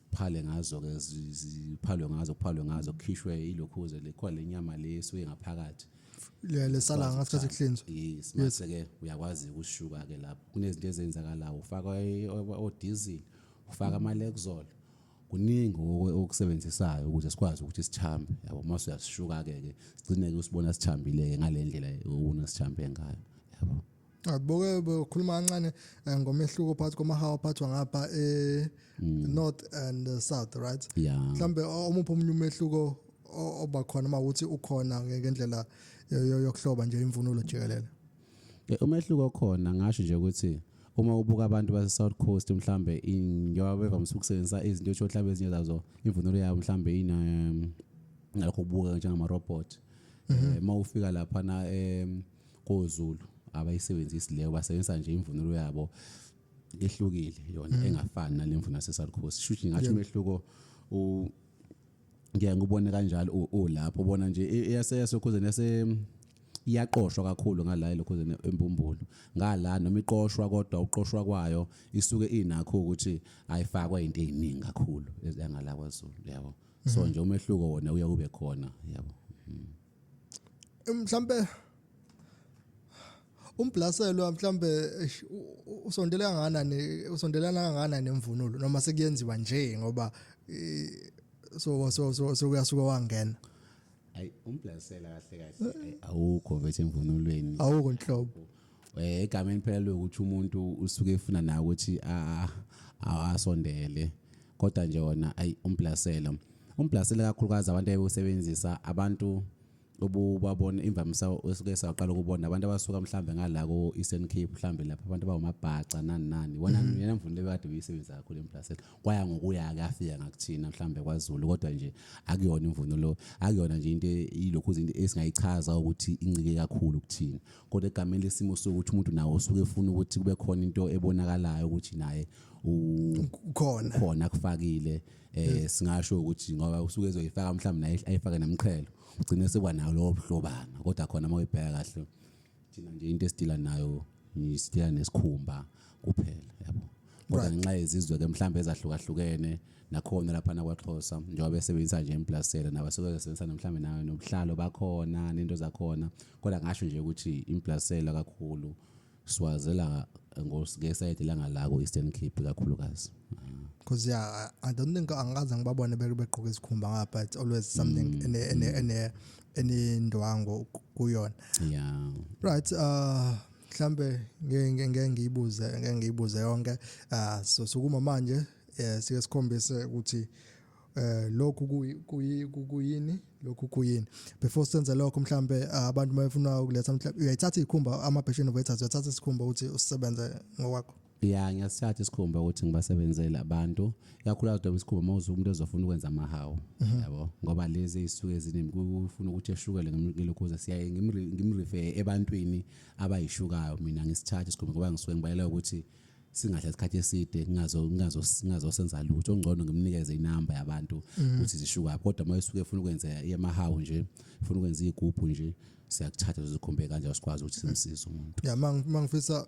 phale ngazo ke ziphalwe ngazo kuphalwe ngazo kukhishwe ilokhuze lekho lenyama leso engaphakathi le lesala ngasikhathi kuhlinzwa yes mase ke uyakwazi ukushuka ke lapho kunezinto ezenzakalayo ufaka odizili ufaka ama lexol kuningi okusebenzisayo ukuze sikwazi ukuthi sithambe yabo mase uyasishuka ke ke sigcine ke usibona sithambile ngale ndlela ubona sithambe ngayo yabo Abuke bekhuluma kancane eh, ngomehluko phakathi kwamahawu aphathwa ngapha e hmm. north and eh, south right? Yeah. Mhlambe omuphi omunye umehluko oba khona uma uthi ukhona ngendlela yokuhloba nje imvunulo jikelele? Eh, umehluko khona ngasho nje ukuthi uma ubuka abantu base South Coast mhlambe njengoba bevamise ukusebenzisa izinto esho mhlambe ezinye zazo imvunulo yabo mhlambe ina um, ngalokho kubuka njengamarobot um mhm. eh, uma ufika lapha na um koZulu abayisebenzisi leyo basebenzisa nje imvunulo yabo ehlukile yona mm. engafani nalemvunulo yaseSouth Coast shuthi ngathi umehluko u ngiya ngubone kanjalo ulapho ubona nje e, eyaseyasokhuzeni yase iyaqoshwa kakhulu ngala elokhuzeni empumbulu ngala noma iqoshwa kodwa uqoshwa kwayo isuke inakho ukuthi ayifakwa into eziningi kakhulu engala kwaZulu yabo so mm-hmm. nje umehluko wona uya kube khona yabo mm-hmm. mhlambe umbhlaselwa mhlambe usondela kanganani usondelana kanganani nemvunulo noma sekuyenziwa nje ngoba so so so so kuyasuka wangena ayi umbhlasela kahle kahle awukho vethe emvunulweni awukho nhlobo eh egameni phela lokuthi umuntu usuke efuna nawe ukuthi asondele kodwa nje wona ayi umblasela umblasela kakhulukazi abantu ayebusebenzisa abantu obubabona imvamisa esuke saqala ukubona abantu abasuka mhlambe ngala ko Eastern Cape mhlambe lapha abantu bawumabhaca nani nani wona mhm. yena mvuni lebekade uyisebenza kakhulu emplasela kwaya ngokuya kafika ngakuthina mhlambe kwaZulu kodwa nje akuyona imvunulo akuyona nje into ilokhu izinto esingayichaza ukuthi incike kakhulu kuthina kodwa egameni lesimo sokuthi umuntu nawo usuke efuna ukuthi kube khona into ebonakalayo ukuthi naye ukhona khona kufakile eh singasho ukuthi ngoba usuke ezoyifaka mhlawumbe naye ayifake namqhelo ugcine sekuba nawo lowo buhlobana kodwa khona uma uyibheka kahle thina nje into esidila nayo isidila nesikhumba kuphela yabo kodwa Right. ngenxa yezizwe ke mhlawumbe ezahlukahlukene nakhona laphana kwaXhosa njengoba besebenzisa nje implasela nabasuke besebenzisana mhlawumbe nayo nobuhlalo bakhona nento zakhona kodwa ngasho nje ukuthi implasela kakhulu siwazela ngos- ngesayidi langalako Eastern Cape kakhulukazi because yeah I, i don't think angikaze ngibabone beke begqoke izikhumba ngapha it's always Mm, something ene ene ene enendwango ku- kuyona yeah right uh mhlambe ngeke ngeke ngiyibuze ngeke ngiyibuze yonke ah so sukuma manje eh sike sikhombise ukuthi eh lokhu kuyini lokhu kuyini before senze lokho mhlambe eh, abantu mayefuna ukuletha mhlambe uyayithatha ikhumba ama passion waiters uyathatha isikhumba ukuthi usebenze ngokwakho ya ngiyasithatha isikhumba ukuthi ngibasebenzele abantu kakhulukazi noma isikhumba uma uze umuntu ezofuna ukwenza amahawu mhm. yabo ngoba lezi ey'suke eziningi kufuna ukuthi eshukele ngilokhuza siyaye ngimrife ebantwini abayishukayo mina ngisithathe isikhumba ngoba ngisuke ngibalela ukuthi singadla isikhathi eside ngingazosenza lutho ongcono ngimnikeze inamba yabantu mhm. ukuthi zishukayo kodwa uma esuke efuna ukwenza yamahawu nje funa ukwenza iy'gubhu nje siyakuthatha sizikhumbe kanjalo sikwazi ukuthi simsize umuntu ya mangifisa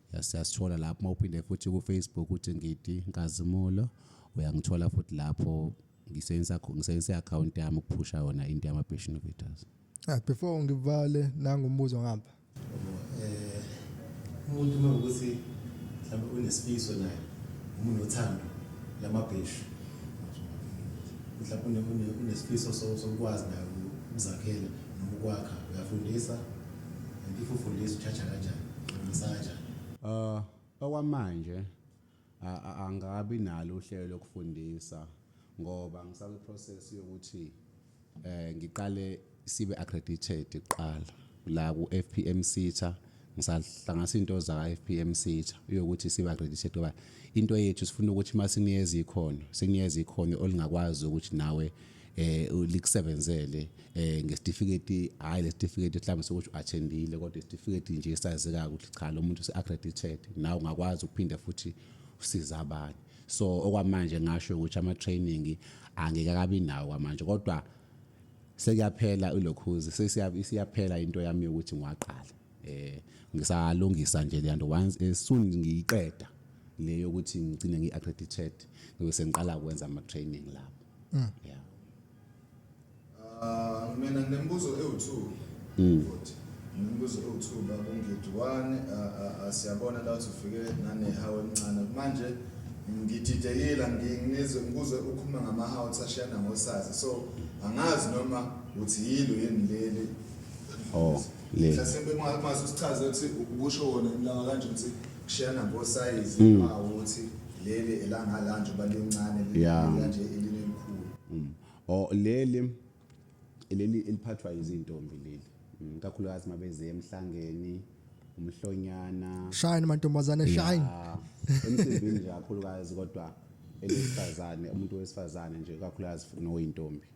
siyasithola lapho uma uphinde futhi kufacebook uthi ngidi nkazimulo uyangithola futhi lapho ngisebenzisa ngisebenzisa i-akhawunti yami ukuphusha yona into yama-passion vitals ah before ngivale nangu umbuzo ngapha eh umuntu uma ukuthi mhlawumbe unesifiso naye umuntu othando lamabheshu mhlawumbe unesifiso sokwazi naye ukuzakhela noma ukwakha uyafundisa And if ufundisa uchacha kanjani? Ufundisa kanjani? Uh, okwamanje a- a- angabi nalo uhlelo lokufundisa ngoba ngisakwi process yokuthi eh ngiqale sibe accredited kuqala la ku FPM Sitha ngisahlanganisa into za FPM Sitha yokuthi sibe accredited ngoba into yethu sifuna ukuthi masiniyeza ikhono siniyeza ikhono olingakwazi ukuthi nawe eh likusebenzele eh ngesitifiketi hayi lesitifiketi mhlawumbe sokuthi uattendile kodwa isitifiketi nje esazeka ukuthi cha lo muntu useaccredited nawe ungakwazi ukuphinde futhi usiza abanye so okwamanje ngasho ukuthi ama training angeke akabi nawo kwamanje kodwa sekuyaphela ulokhuzi sesiyaphela into yami ukuthi ngiwaqala eh ngisalungisa nje leyanto once eh, soon ngiyiqeda le yokuthi ngicine ngi accredited ngibe sengiqala ukwenza ama training lapho mm. yeah uh mina nginembuzo ewu2 mm. futhi nginembuzo ewu2 baba ngidwane uh, uh, siyabona la ufike nane hawe emncane manje ngididekile ngingizwe ngikuze ukhuluma ngama house ashiyana ngosazi so angazi noma uthi yilo yini leli oh le mhlasimbe mase usichaze ukuthi ukusho wona lawa kanje ukuthi kushiyana ngosayizi mm. ukuthi leli elangalanje balincane kanje elinekhulu mm. o leli leli eliphathwa izintombi leli mm, kakhulukazi mabeze emhlangeni umhlonyana shine mantombazane shine emsebenzini nje kakhulukazi kodwa elesifazane umuntu wesifazane nje kakhulukazi noyintombi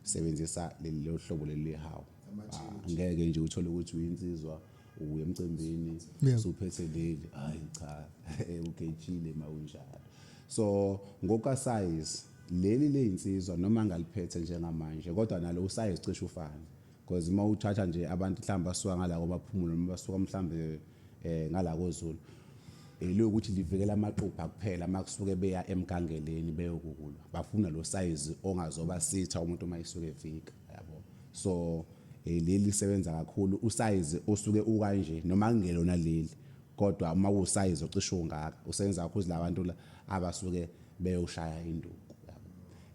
sebenzisa lelo hlobo leli hawu ah, ngeke nje uthole ukuthi uyinsizwa uye emcimbini usuphethe leli hayi cha ugejile mawunjalo so ngoka size leli leyinsizwa noma ngaliphethe njengamanje kodwa nalo usayizi cishe ufana Cause uma uthatha nje abantu mhlawumbe basuka ngala komaphumulo noma basuka mhlawumbe eh ngala kozulu. Eliyo ukuthi livikela amaqupha kuphela uma kusuke beya emgangeleni beyokukulwa. Bafuna lo size ongazoba sitha umuntu uma isuke evika yabo. So eh, leli sebenza kakhulu usize osuke ukanje noma kungelona leli kodwa uma kusize ocishe ungaka usebenza kakhulu labantu abasuke beyoshaya induku.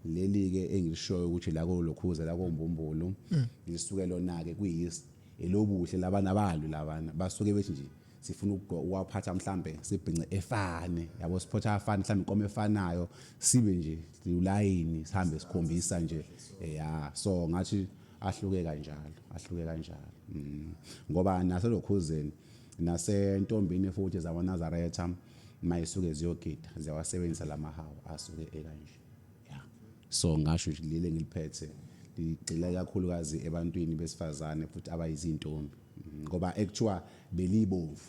leli ke engilishoyo ukuthi la kolokhuza la kombumbulu mm. lisuke lona ke kuyis elobuhle labana abalwi labana basuke bethi nje sifuna ukuwaphatha mhlambe sibhince efane yabo siphotha afane mhlambe inkomo efanayo sibe nje ulayini sihambe sikhombisa nje eh, ya so ngathi ahluke kanjalo ahluke kanjalo mm. ngoba naselokhuzeni nasentombini futhi zakwanazaretha mayisuke ziyogida ziyawasebenzisa lamahawu asuke ekanje yeah. so ngasho ukuthi lile ngiliphethe ligxila kakhulukazi ebantwini besifazane futhi abayizintombi mm, ngoba ekuthiwa belibomvu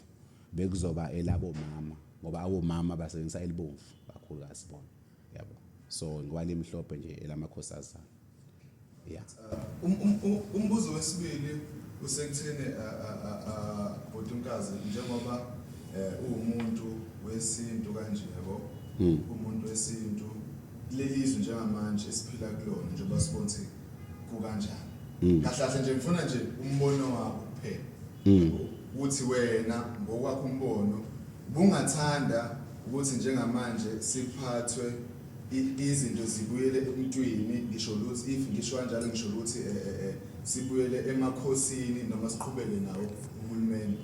bekuzoba elabo mama ngoba awomama basebenzisa elibomvu kakhulukazi bona yabo so ngoba limhlophe nje elamakhosi azana Yeah. Uh, um, um, um, umbuzo wesibili usekutheni uh, uh, bhuti mkazi njengoba uwumuntu wesintu kanje yabo hmm. umuntu wesintu lelizwe njengamanje esiphila kulona njengoba sibona ukuthi kukanjani hmm. kahle kahle nje ngifuna nje umbono wakho kuphela hmm. ukuthi wena ngokwakho umbono bungathanda ukuthi njengamanje siphathwe izinto zibuyele emuntwini ngisho luthi if ngisho kanjalo ngisho luthi eh, eh, eh, sibuyele emakhosini noma siqhubeke nawo uhulumeni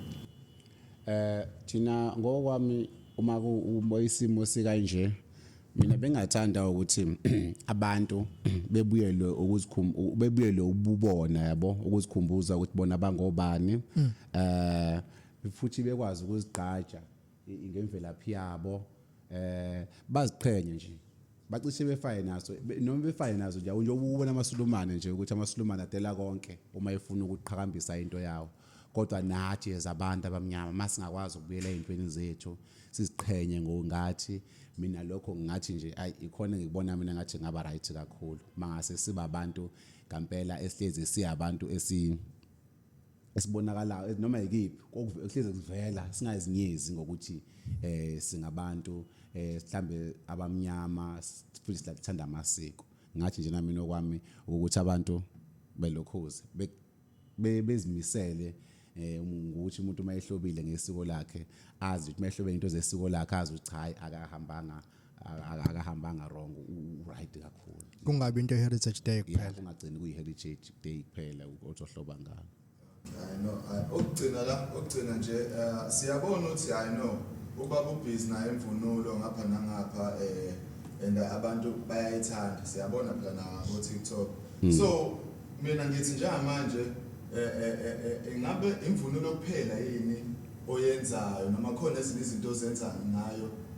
eh thina ngokwami uma kuba isimo sikanje mina bengathanda ukuthi abantu bebuyelwe ukuzikhumbuza bebuyelwe ububona yabo ukuzikhumbuza ukuthi bona bangobani hmm. eh futhi bekwazi ukuzigqaja ngemvelaphi yabo eh baziqhenye nje bacishe befaye naso be- noma befaye nazo nje njengoba ubona amasulumane nje ukuthi amasulumane adela konke uma efuna ukuqhakambisa into yawo kodwa nathi as abantu abamnyama masingakwazi ukubuyela ezintweni zethu siziqhenye ngokungathi mina lokho ngathi nje ayi ikhona ngikubona mina ngathi ngaba right kakhulu mangase siba abantu ngampela esihlezi siyabantu esi esibonakalayo eh, noma yikiphi okuhleze kuvela singazinyezi ngokuthi eh singabantu eh mhlambe abamnyama futhi silakuthanda amasiko ngathi nje nami nokwami ukuthi abantu belokhoze bezimisele eh ukuthi umuntu uma ehlobile ngesiko lakhe azi ukuthi uma ehlobile into zesiko lakhe azi ukuthi hayi akahambanga akahambanga wrong uright kakhulu kungabi into heritage day kuphela kungagcini kuyi heritage day kuphela ozohloba ngalo I know okugcina la okugcina nje eh, siyabona ukuthi I know ubaba ubhizi naye imvunulo ngapha nangapha eh and abantu bayayithanda siyabona phela na ku TikTok hmm. so mina ngithi njengamanje eh, eh, eh, ingabe imvunulo kuphela yini oyenzayo noma khona ezinye izinto ozenza ngayo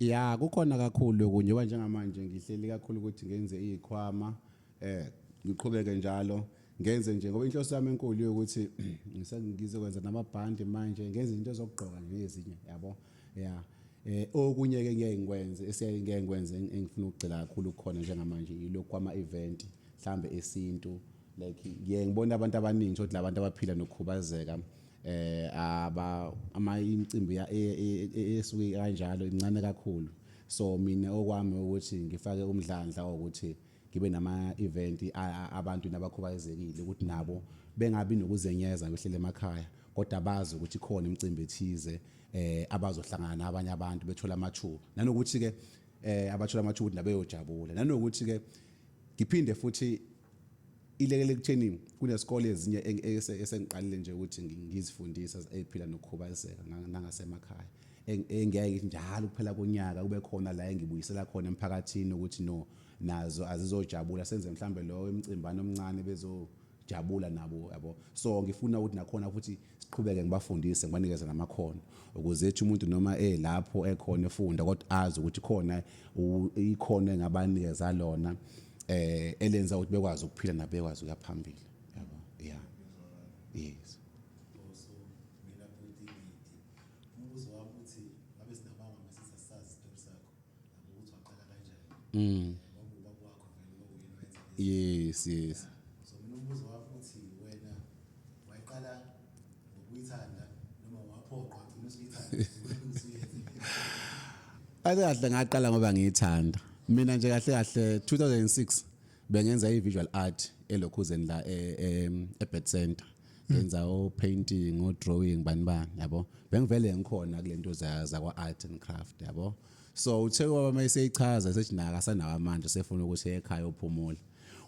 ya kukhona kakhulu okunye njengoba njengamanje ngihleli kakhulu ukuthi ngenze izikhwama eh ngiqhubeke njalo ngenze nje ngoba inhloso yami enkulu yokuthi ngizokwenza namabhandi manje ngenze into zokugqoka nje ezinye yabo ya eh okunye ke ngeke ngikwenze esiyaye ngeke ngikwenze engifuna ukugcila kakhulu khona njengamanje yilokhu kwama event mhlambe esintu like ngiye ngibona abantu abaningi ukuthi labantu abaphila nokukhubazeka eh aba ama imicimbi e, e, e, esuke kanjalo incane kakhulu so mina okwami ukuthi ngifake umdlandla ukuthi ngibe nama event abantu nabakhubazekile ukuthi nabo bengabi nokuzenyeza behlele emakhaya kodwa bazi ukuthi khona imicimbi ethize eh abazohlangana nabanye abantu bethola amathuba nanokuthi ke eh abathola amathuba ukuthi nabeyojabula nanokuthi ke ngiphinde futhi ilekele kutheni kunesikole ezinye esengiqalile nje ukuthi ngizifundise eziphila nokukhubazeka nangasemakhaya engeke njalo kuphela konyaka kube khona la engibuyisela khona emphakathini ukuthi no nazo azizojabula senze mhlambe lowo emcimbani omncane bezojabula nabo yabo so ngifuna ukuthi nakhona futhi Siqhubeke ngibafundise ngibanikeze namakhono ukuze ethi umuntu noma elapho ekhona efunda kodwa azi ukuthi khona ikhono engabanikeza lona eh elenza ukuthi bekwazi ukuphila nabekwazi ukuya phambili yabo yeah yes Mm. Yes, yes. So mina umbuzo wakho uthi wena wayiqala ngokuyithanda noma waphoqwa ugcina usuyithanda. Kahle kahle ngaqala ngoba ngiyithanda. Mina nje kahle kahle 2006 bengenza i-visual art elokhuzeni la e-, e-, e-Bed Center. ngenza o painting o drawing bani bani yabo bengivele ngikhona kulento za zakwa art and craft yabo so uthe kwaba mayiseyichaza sethi naka sanawo amandla sefuna ukuthi ekhaya uphumule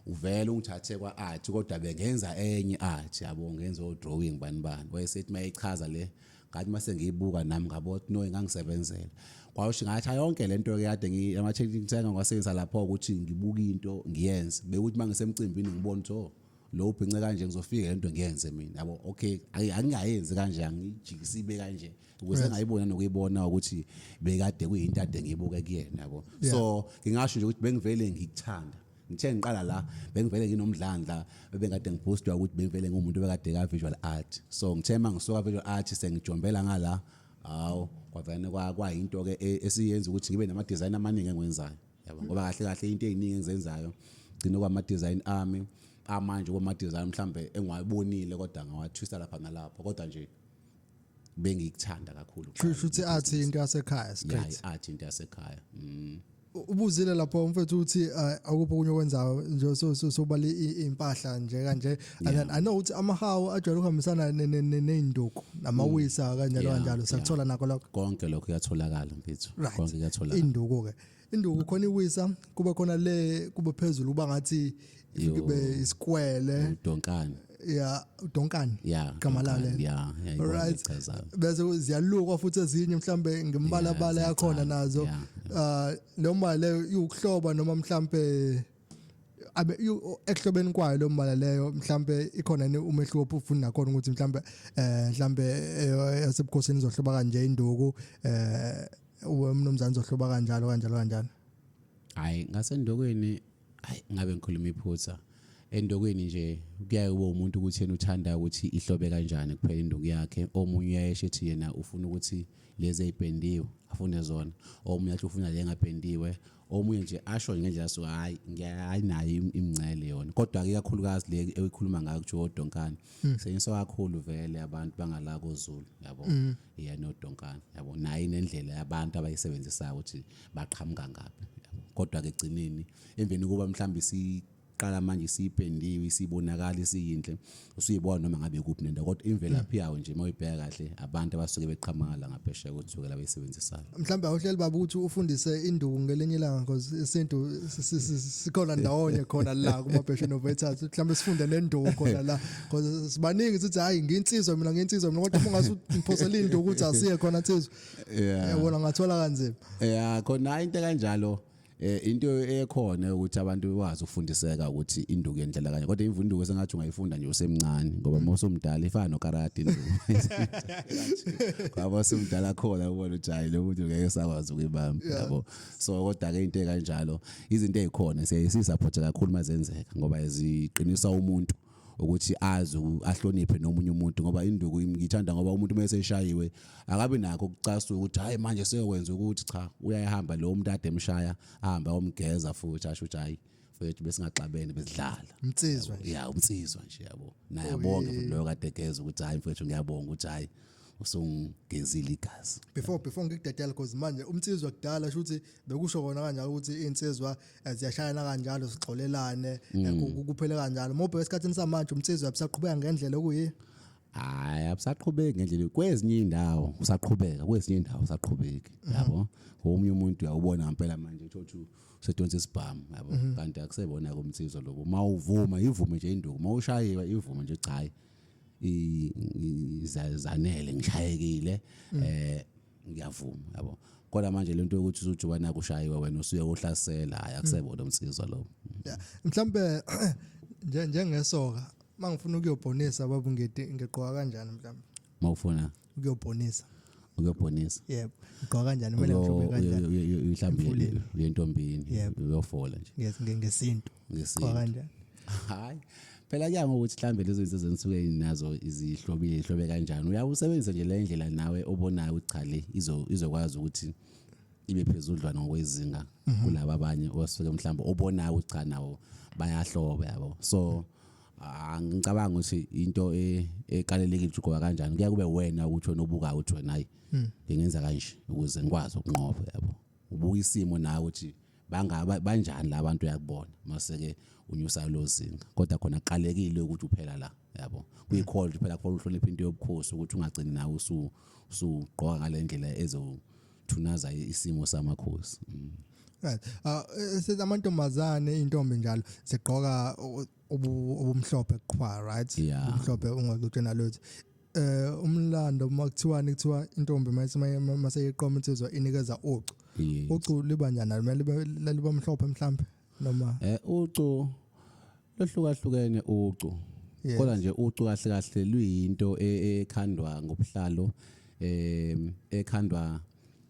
uvele ungithathe kwa art kodwa bengenza enye art yabo ngenza o drawing bani bani wayesethi mayichaza le ngathi mase ngiyibuka nami ngabo no engangisebenzela kwasho ngathi yonke lento ke kade ngiyama technique thenga ngasebenzisa lapho ukuthi ngibuka into ngiyenze bekuthi mangisemcimbini ngibona ukuthi oh lo ubhince kanje ngizofika lento ngiyenze mina yabo okay angingayenzi kanje angijikisi ibe kanje ukuze ngayibona nokuyibona ukuthi bekade kuyinto ade ngibuke kuyena yabo so ngingasho nje ukuthi bengivele ngikuthanda ngithe ngiqala la bengivele nginomdlandla bebengade ngiboostwa ukuthi bengivele ngumuntu bekade ka visual art so ngithe mangisuka visual art sengijombela ngala hawo kwavene kwayinto ke e, esiyenza ukuthi ngibe nama design amaningi engwenzayo yabo ngoba kahle kahle into eziningi engizenzayo gcina kwama design ami amanje kwama design mhlambe engiwabonile kodwa ngawathwisa lapha nalapha kodwa nje bengikuthanda kakhulu kusho ukuthi athi into yasekhaya straight yeah athi into yasekhaya mm ubuzile lapho umfethu uthi eh, akuphi okunye okwenzayo nje so so sobale impahla nje kanje and then i know ukuthi amahawu ajwayele ukuhambisana neinduku namawisa mm. kanjalo kanjalo sakuthola nako lokho konke lokho kuyatholakala mfethu konke kuyatholakala induku ke induku khona iwisa kuba khona le kuba phezulu uba ngathi ibe isikwele udonkane ya udonkane ya gamalale ya right bese ziyalukwa futhi ezinye mhlambe ngembala bala yakhona nazo uh lo mbala leyo iwukuhloba noma mhlambe abe ekuhlobeni kwayo lo mbala leyo mhlambe ikhona ni umehluko ofuna nakhona ukuthi mhlambe eh mhlambe eh, yasebukhosini izohloba kanje induku eh uwe mnumzane zohloba kanjalo kanjalo kanjalo hayi ngasendokweni hayi ngabe ngikhuluma iphutha endokweni nje kuyaye kube umuntu ukuthi yena uthanda ukuthi ihlobe kanjani kuphela induku yakhe omunye uyayesho ethi yena ufuna ukuthi lezi ezipendiwe afune zona omunye athi ufuna le ngapendiwe omunye nje asho ngendlela so hayi ngiyayi nayo imncele yona kodwa ke kakhulukazi le eyikhuluma ngayo kuthi odonkana hmm. senyiswa kakhulu vele abantu bangala kozulu yabo hmm. iya nodonkana yabo nayi nendlela yabantu abayisebenzisayo ukuthi baqhamuka ngapi kodwa ke gcineni emveni kuba mhlawumbe si qala manje isipendiwe isibonakala isiyinhle usuyibona noma ngabe kuphi nento kodwa imvelaphi yawo nje uma uyibheka kahle abantu abasuke beqhamala ngaphesheya kothukela abayisebenzisayo mhlawumbe awuhleli baba ukuthi ufundise induku ngelinye ilanga because isintu sikhona ndawonye khona la kuma passion of etas mhlawumbe sifunde nenduku khona la because sibaningi sithi hayi nginsizwa mina nginsizwa mina kodwa ungase umphosela induku ukuthi asiye khona insizwa yabona ngathola kanzima yeah khona into kanjalo eh into ekhona ukuthi abantu bekwazi ukufundiseka ukuthi induku yendlela kanye kodwa imvunduku sengathi ungayifunda nje usemncane ngoba uma usumdala ifana nokarate induku ngoba usumdala khona ubona ujayile ukuthi ngeke sakwazi ukuyibamba yabo so kodwa ke into kanjalo izinto ezikhona siyayisisupport kakhulu mazenzeka ngoba ziqinisa umuntu ukuthi azi ahloniphe nomunye umuntu ngoba induku ngithanda ngoba umuntu uma eseshayiwe akabi nakho ukucasula ukuthi hayi manje seyokwenza ukuthi cha uyayihamba lo muntu ade emshaya ahamba omgeza futhi asho ukuthi hayi mfethu besingaxabene besidlala umnsizwa nje ya umnsizwa nje yabo naye abonge futhi loyo kade egeza ukuthi hayi mfethu ngiyabonga ukuthi hayi usungezile igazi before before ngikudedela because manje umnsizwa kudala shuthi bekusho kona kanjalo ukuthi insizwa eh, ziyashayana kanjalo zixolelane eh, mm. ku- ku- kuphele kanjalo mobhe esikhathini samanje umsizwe abusaqhubeka ngendlela okuyiyo hayi abusaqhubeki ngendlela kwezinye indawo usaqhubeka kwezinye indawo usaqhubeki yabo omunye umuntu uyawubona ngempela manje utho ukuthi usedonsa isibhamu yabo kanti akusebona komthizo lobo uma uvuma ivume nje induku uma ushayiwe ivume nje cha hayi i- i- za- zanele ngishayekile eh ngiyavuma yabo kodwa manje lento yokuthi uzojuba naku ushayiwe wena usuye uhlasela hayi akusebona umsizwa lo yeah mhlambe nje njengesoka mangifuna ukuyobhonisa babu ngidi ngigqoka kanjani mhlambe mawufuna ukuyobhonisa ukuyobhonisa yebo ngigqoka kanjani kumele ngihlobe kanjani mhlambe uyentombini uyofola nje ngesintu ngesintu Kwakanjani? hayi phela kuya ngokuthi mhlawumbe lezo zinto zenisuke nazo izihlobile ihlobe kanjani uyawusebenzisa nje le ndlela nawe obonayo ukuthi cha le izo- izokwazi ukuthi ibe phezudlwana ngokwezinga kulaba abanye osuke mhlawumbe obonayo ukuthi cha nawo bayahloba yabo so ah, ngicabanga ukuthi into e- ekalelekile ukuthi ugoba kanjani kuya kube wena ukuthi wena obukayo ukuthi wena hayi ngingenza kanje ukuze ngikwazi ukunqoba yabo ubuka isimo nawe ukuthi bangaba banjani la bantu uyakubona mase ke unyusa lozinga kodwa khona qalekile ukuthi uphela la yabo kuyikhona ukuthi phela kufanele uhloniphe into yobukhosi ukuthi ungagcini nawe usu usugqoka ngalendlela ezothunaza isimo samakhosi mm. right uh, eh, amantombazane intombi njalo zigqoka ubumhlophe qhwa right umhlophe ungaxoxe nalutho eh umlando uma kuthiwani kuthiwa intombi mase mase iqoma insizwa inikeza ucu ucu liba njani kumele liba mhlophe mhlambe noma eh ucu lohlukahlukene ucu kodwa nje ucu kahle kahle luyinto e, e, ekhandwa ngobuhlalo eh ekhandwa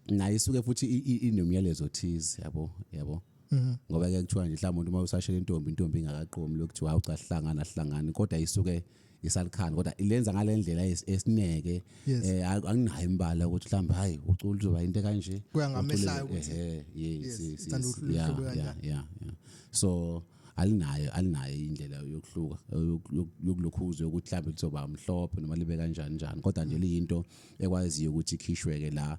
naye isuke futhi inomyalezo thize yabo yabo Mhm. ngoba ke kuthiwa nje mhlawumbe umuntu uma usashela intombi intombi ingakaqomi lokuthiwa hawu cha sihlangana sihlangani kodwa isuke isalikhani kodwa ilenza ngale ndlela es- esineke Yes. eh ak- anginayo imbala ukuthi mhlawumbe hayi ucula uzoba into kanje Kuya ngamehlayo Ucule- ukuthi- ehe, yes, Yes, yes, uthanda yes, uhlu- yeah, uhlobo yeah, kanjani. yeah, yeah. so alinayo alinayo indlela yokuhluka yoku- yoku- yokulokhuza yokuthi mhlawumbe lizoba mhlophe noma libe kanjani njani kodwa nje liyinto ekwaziyo ukuthi ikhishweke la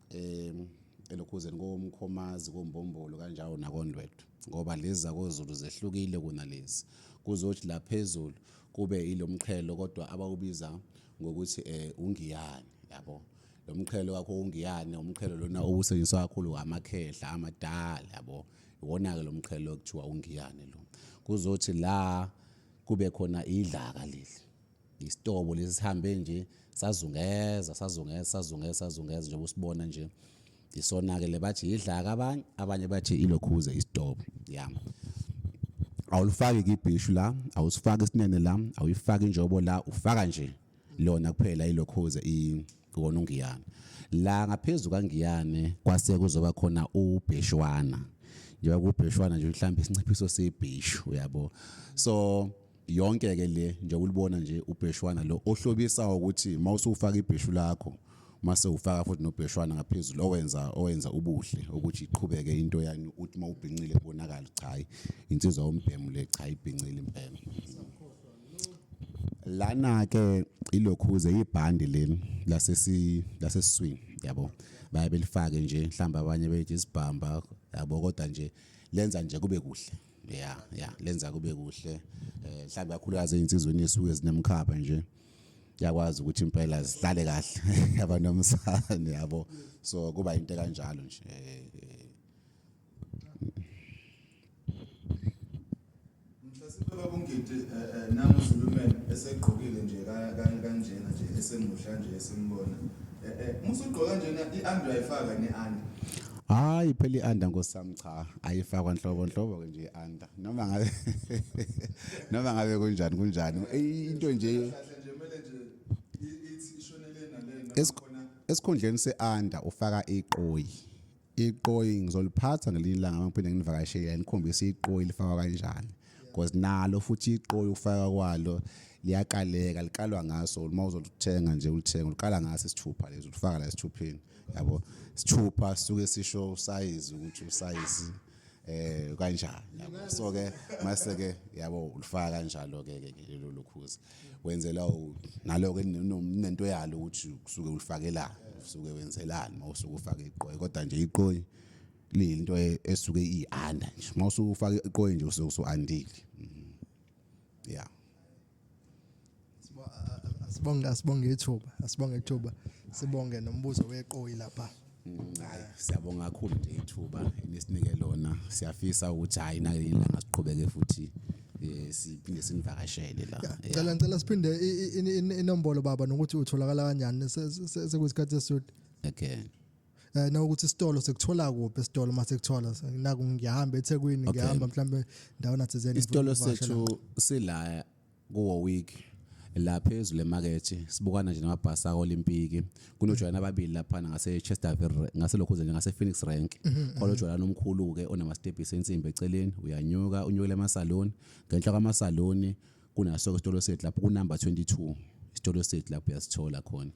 um elokhuzeni komkhomazi kombombolo kanjalo nakondwedwe ngoba lezi zakozulu zehlukile kunalezi kuzothi la phezulu kube ilomqhelo kodwa abawubiza ngokuthi eh ungiyane yabo lo mqhelo wakho ungiyane umqhelo lona obusetshenziswa kakhulu amakhehla amadala yabo iwona-ke lo mqhelo okuthiwa ungiyane lo kuzothi la kube khona idlaka leli Isitobo lesi sihambe nje sazungeza sazungeza sazungeza sazungeza njengoba usibona nje isona-ke le bathi yidlaka abanye abanye bathi ilokhuze isitobo ya awulifaki kibhishu la awusifaki isinene la awuyifaki injobo la ufaka nje lona kuphela ilokhuze ikona ungiyane la ngaphezulu kangiyane kwase kuzoba khona ubheshwana njengoba kubheshwana nje mhlawumbe isinciphiso sebhishu uyabo so yonke ke le nje ulibona nje ubheshwana lo ohlobisa ukuthi mawusufaka ibheshu lakho mase ufaka futhi nobheshwana ngaphezulu owenza owenza ubuhle ukuthi iqhubeke into yani uthi mawubhincile kubonakala cha hayi insizwa ombhemu le cha ibhincile impela lana ke ilokhuze ibhandi leli lasesi laseswini yabo baye belifake nje mhlamba abanye bethi isibhamba yabo kodwa nje lenza nje kube kuhle yeah yeah lenza kube kuhle eh mhlawumbe kakhulukazi insizweni esuke zinemkhapha nje yakwazi ukuthi impela zihlale kahle yaba nomsane yabo so kuba into kanjalo nje eh, eh. Mhlasiphela kungidi eh, namu Zulumen esegqokile nje kanjena nje esemuhla nje esimbona musugqoka njena iandu ayifaka neandi Hayi phela ianda nkosami cha ayifakwa nhlobo nhlobo ke nje ianda noma ngabe noma ngabe kunjani kunjani into nje esikhundleni seanda ufaka iqoyi iqoyi ngizoliphatha ngelinye ilanga ngiphinde nginivakashele nikhombise iqoyi lifakwa kanjani because nalo futhi iqoyi ukufaka kwalo liyakaleka likalwa ngaso uma uzoluthenga nje ulithenga uliqala ngaso isithupha lezi ulifaka la esithupheni yabo isithupha suke sisho usayizi ukuthi usayizi eh kanjani yabo so ke mase ke yabo ulifaka kanjalo ke ke lelo lokhuzi wenzela nalo ke nento yalo ukuthi kusuke ulifakelana usuke wenzelani mawusuke ufake iqoyi kodwa nje iqoyi lento e- esuke ianda nje uma usufaka iqoyi nje usuke usuandile Mhm. yeah asibonge asibonge ithuba asibonge ithuba sibonge nombuzo weqoyi lapha hayi siyabonga kakhulu nje ithuba nisinike lona siyafisa ukuthi hayi nalanga siqhubeke futhi eh, siphinde sinivakashele la Yeah. ngicela ngicela siphinde i- i- i- i- inombolo baba nokuthi utholakala kanjani Se- se- se- sekuyisikhathi esisude okay eh nokuthi isitolo sekuthola kuphi isitolo uma sekuthola naku ngiyahamba eThekwini Okay. ngiyahamba mhlambe ndawo nathizeni isitolo sethu sila kuwo week la phezulu emakethe sibukana nje namabhasi aolimpiki kunojwayana ababili laphana ngasechesterville ngaselokhu nje ngasephoenix rank khona ujwayana omkhulu-ke onamastebhisi ensimbi eceleni uyanyuka unyukele emasaloni ngenhla kwamasaloni kunaso isitolo sethu lapho kunumber 22 isitolo sethu lapho uyasithola khona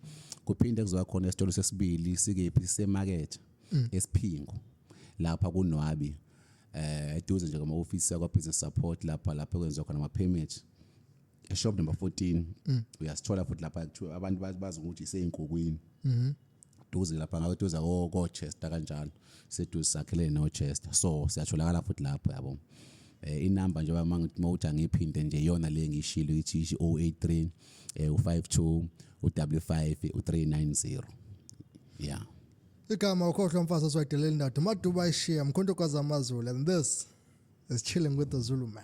kuphinde kuzoba khona isitolo sesibili sikephi semakethe mm. esiphingo lapha kunwabi eh eduze nje kama office yakwa business support lapha lapho kwenziwa khona ama permit eshop number 14 mm. uyasithola futhi lapha kuthiwa abantu bazi ukuthi iseyinkukwini mhm duze lapha ngabe duze kochester kanjalo seduze sakhelene nochester so siyatholakala futhi lapho yabo eh inamba njengoba manje mawuthi angiphinde nje yona le ngishilo ithi 083 eh u52 u55 u390 yeah igama ukhohlwa mfazi oswayidelela indoda umaduba ishiya mkhonto kwazi amazulu and this is chilling with the zulu man